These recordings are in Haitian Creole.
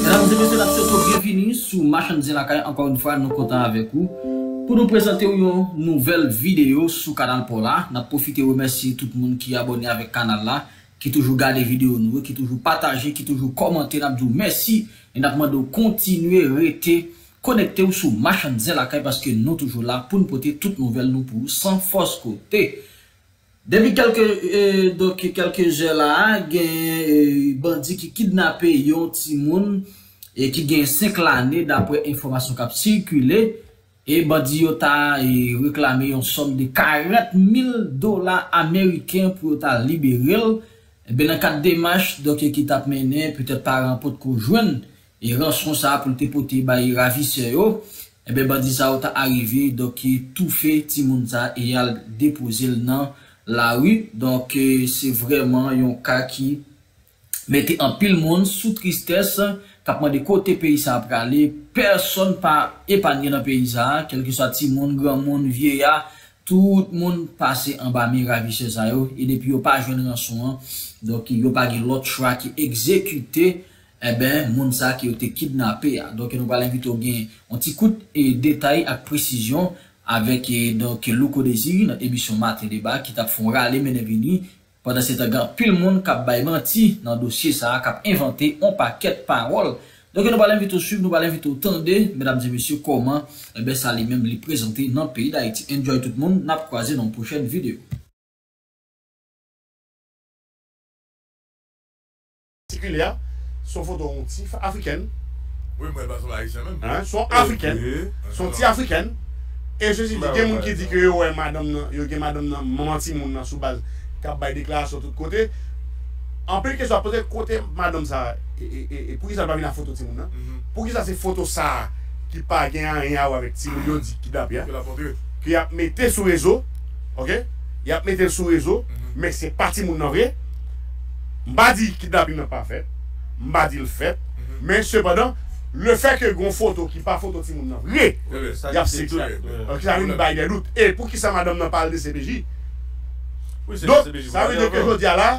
Medam e mesye nap swete w byenvini sou Machann Zen Lakay ankò yon fwa nou kontan avèk ou pou nou prezante w yon nouvèl videyo sou kanal paw la nap pwofite remèsye tout moun ki abòne avèk kanal la ki toujou gade videyo nou yo ki toujou pataje ki toujou kòmante nap di w mèsi e nap mande w kontinye rete Konekte w sou Machann Zen Lakay paske nou toujou la pou n pote tout nouvèl nou pou ou san fòs kote. Depi kèlke donk kèlke zè la a genyen bandi ki kidnape yon timoun ki genyen 5 lane daprè enfòmasyon k ap sikile e bandi yo ta reklame yon sòm de 40 mil dola ameriken pou yo ta libere l. Enben nan kad demach donk ki t ap mennen petèt paran an potko jwenn E ranson sa pou l te pote bay ravisè yo, enben bandi sa yo ta arive donk toufe timoun sa e y al depoze l nan lari. Donk se vrèman yon ka ki mete anpil moun sou tristès, k ap mande kote peyi sa a prale. Pèsonn pa epanye nan peyi sa a, kèlkeswa timoun, granmoun, vyeya, tout moun pase anba men ravisè sa yo e depi yo pa jwenn ranson an, donk yo pa gen lòt chwa ke egzekite Enben, moun sa ke yo te kidnape a. Donk nou pral envite w gen yon ti kout detay ak presizyon avèk donk Louko Désir nan emisyon Matin Débat ki tap fè yon rale mennen vini. Pandansetan gen anpil moun kap bay manti nan dosye sa a, kap envante yon pakèt pawòl. Donk nou pral envite w swiv, nou pral envite w tande medam e mesye kòman enben sa li menm li prezante nan peyi Dayiti. Enjoy tout moun, nap kwaze nan yon pwochèn videyo. Sikile a se yon foto yon ti afrikèn. Wi mwen pa se yon ayisyen menm. Se yon afrikèn, se yon ti afrikèn e sesi di gen moun ki di ke yo wè madanm nan, yo gen madanm nan manman timoun nan sou baz kap bay deklarasyon tout kote. Anpil kesyon ap poze kote madanm sa e poukisa li pa vin ak foto timoun nan? Poukisa se foto sa ki pa gen anyen a wè avèk timoun yo di kidnape a ke yap mete sou rezo ok, yap metel sou rezo men se pa timoun nan vre. M pa di kidnaping nan pa fèt, m pa di l fèt, men sepandan, lefè ke gen yon foto ki pa foto timoun nan vre, y ap se klè. Donk sa vin bay dè dout. E poukisa madanm nan pa al dcpj? Donk sa vle di ke jodi a la,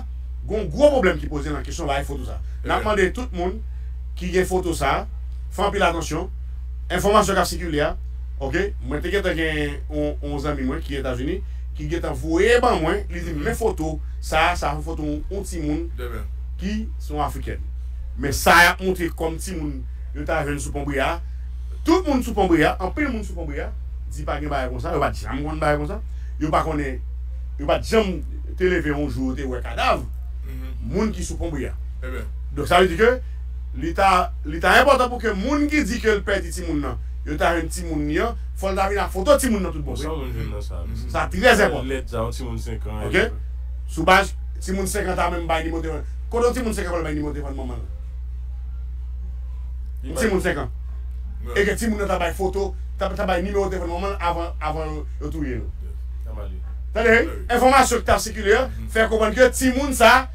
gen yon gwo pwoblèm ki poze nan kesyon bay foto sa. N ap mande tout moun ki gen foto sa, fè anpil atansyon. Enfòmasyon k ap sikile a, oke, mwen te gentan gen yon zanmi mwen ki Etazini, ki gentan voye ban mwen li di m men foto sa a sa son foto yon timoun ki se yon afrikèn men sa yap montre kòm timoun yo ta jwenn sou pon brea tout moun sou pon brea anpil moun sou pon brea di pa gen bagay konsa yo pat janm konn bagay konsa yo pa konnen yo pat janm te leve yon jou yo te wè kadav moun ki sou pon brea donk sa vle di ke li ta li ta enpòtan pou ke moun ki di ke l pèdi timoun nan. yo ta jwenn timoun li an, fò l ta vin ak foto timoun nan tout bon san. Sa trè enpòtan. Ok? Sou baz timoun 5 an ta menm bay nimewo telefòn. Kote yon timoun 5 an pral bay nimewo telefòn manman l? Yon timoun 5 an. E ke timoun nan ta bay foto, ta bay nimewo telefòn manman l avan, avan yo touye l. Tande, enfòmasyon ki ta sikile an fè konprann ke timoun sa a.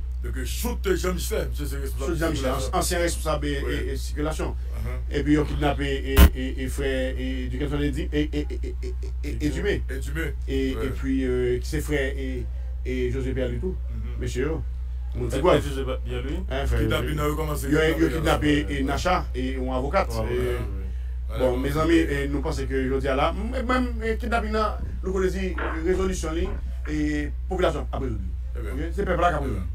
Dòk Shoot James fè, misye se responsab sikilasyon. Ansyen responsab sikilasyon. Epi yo kidnape frè Duckenson Edumé. Edumé. Epi ki se frè José Pierre Louis tou. Mesye yo. Moun ti pwèv. José Pierre Louis. Kidnapin nan rekomanse. Yo kidnape Nacha, yon avokat. Bon, mezanmi, nou panse ke jodi a la, menm kidnapin nan, nou konn yo di rezolisyon li, popilasyon ap rezoud li. Ok se pèp la kap rezoud li.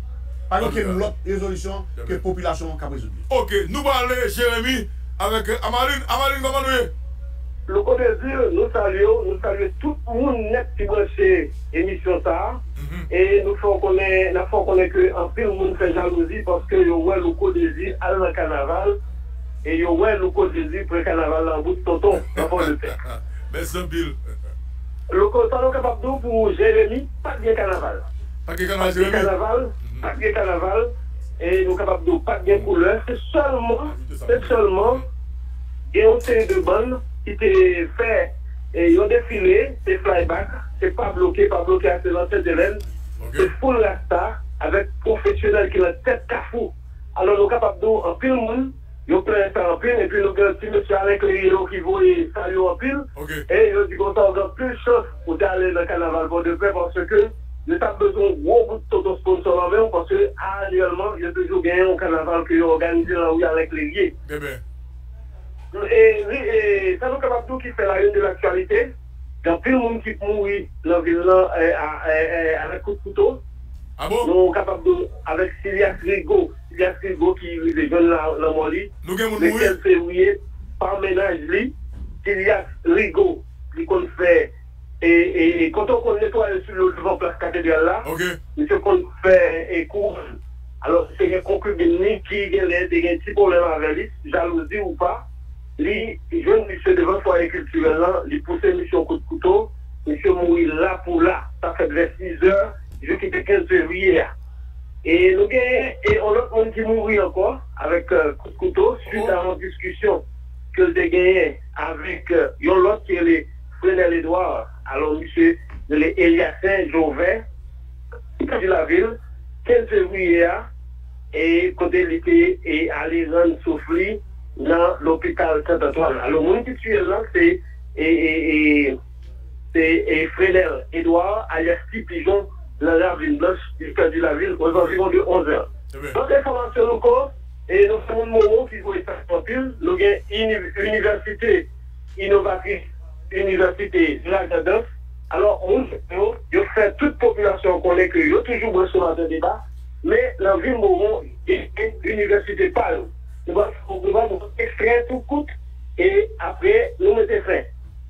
Pa gen okenn lòt rezolisyon ke popilasyon an kap rezoud li. Ok nou pale Jeremie avèk Amaline, Amaline kòman nou ye? Louko Désir nou salye w, nou salye tout moun nèt ki branche emisyon sa a e nou fè w konnen nap fè w konnen ke anpil moun fè jalouzi paske yo wè Louko Désir al nan kanaval e yo wè Louko Désir pran kanaval la an bout tonton nan Pòdepè. Mèsi anpil. Louko sa nou kapab di w pou Jeremie? Pat gen kanaval. Pat gen kanaval Jeremi. Pat gen kanaval. Pat gen kanaval. E nou kapab di w pat gen koulè. Se sèlman, se sèlman gen yon seri de bann ki te fè yon defile, se fly back, se pa bloke, pa bloke a se lan Sentelèn, se full rasta avèk pwofesyonèl ki lan tèt kafou. Alò nou kapab di w anpil moun. Yo plen sa anpil epi nou gen yon ti mesye Alain Clerio ki voye sa yo anpil e yo di konsa ou gen anpil chans pou te ale nan kanaval Pòdepè paske yo t ap bezwen yon gwo bout tonton sponsò nan men ou paske anyèlman yo toujou gen yon kanaval ke yo òganize nan rue Alain Clerie. E sa nou kapab di w ki fè la une de l'actualité, gen anpil moun ki mouri nan vil lan a la kout kouto, nou kapab di w avèk Silias Rigaud. Pigas Rigo ki rive jwenn lanmò li le 15 fevriye pa mennaj li. Pigas Rigo li konn fè kote ou konn netwaye sou yo devan plas katedral la misye konn fè kouwòn alò te gen konkibin li ki genlè te gen ti pwoblèm avè li jalouzi ou pa li jwenn misye devan fwaye kiltirèl lan li pouse misye yon kout kouto misye mouri la pou la sa fèt vè 6 zè jou ki te 15 fevriye a. E nou genyen yon lòt moun ki mouri ankò avèk kout kouto swit a yon diskisyon ke l te genyen avèk yon lòt ki rele Frenel Edouard. Alò misye rele Eliacin Joven, ki te di lavil 15 fevriye a e kote li te ale rann souf li nan lopital Sant Antwàn. Alò moun ki tiye l lan se. Se Frenel Edouard alyas Ti Pijon nan Ravin Blanch li pèdi lavi l ozanviwon de 11 è. Lòt enfòmasyon nou ko nou gen moun Mowo ki voye sa fè anpil, nou gen inivèsite inovatris inivèsite Lagrandans alò moun sa yo yo fè tout popilasyon an konnen ke yo toujou branche Maten Deba men nan vil Mowo yo gen inivèsite pa yo. Nou pral fè yon ekstrè tou kout e apre nou mete fen.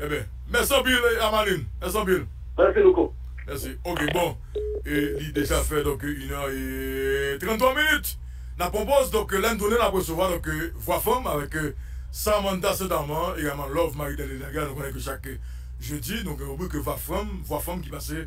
Ebyen mèsi anpil Amaline mèsi anpil. Mèsi louko. Mèsi ok bon e li deja fè donk une heure et 33 minutes nap pran poz donk lèn tounen nap resevwa donk vwa fanm avèk Samantha Saint Amand egalman Love Marie Darline Delga nou konnen ke chak jeudi nou gen ribrik vwa fanm vwa fanm ki pase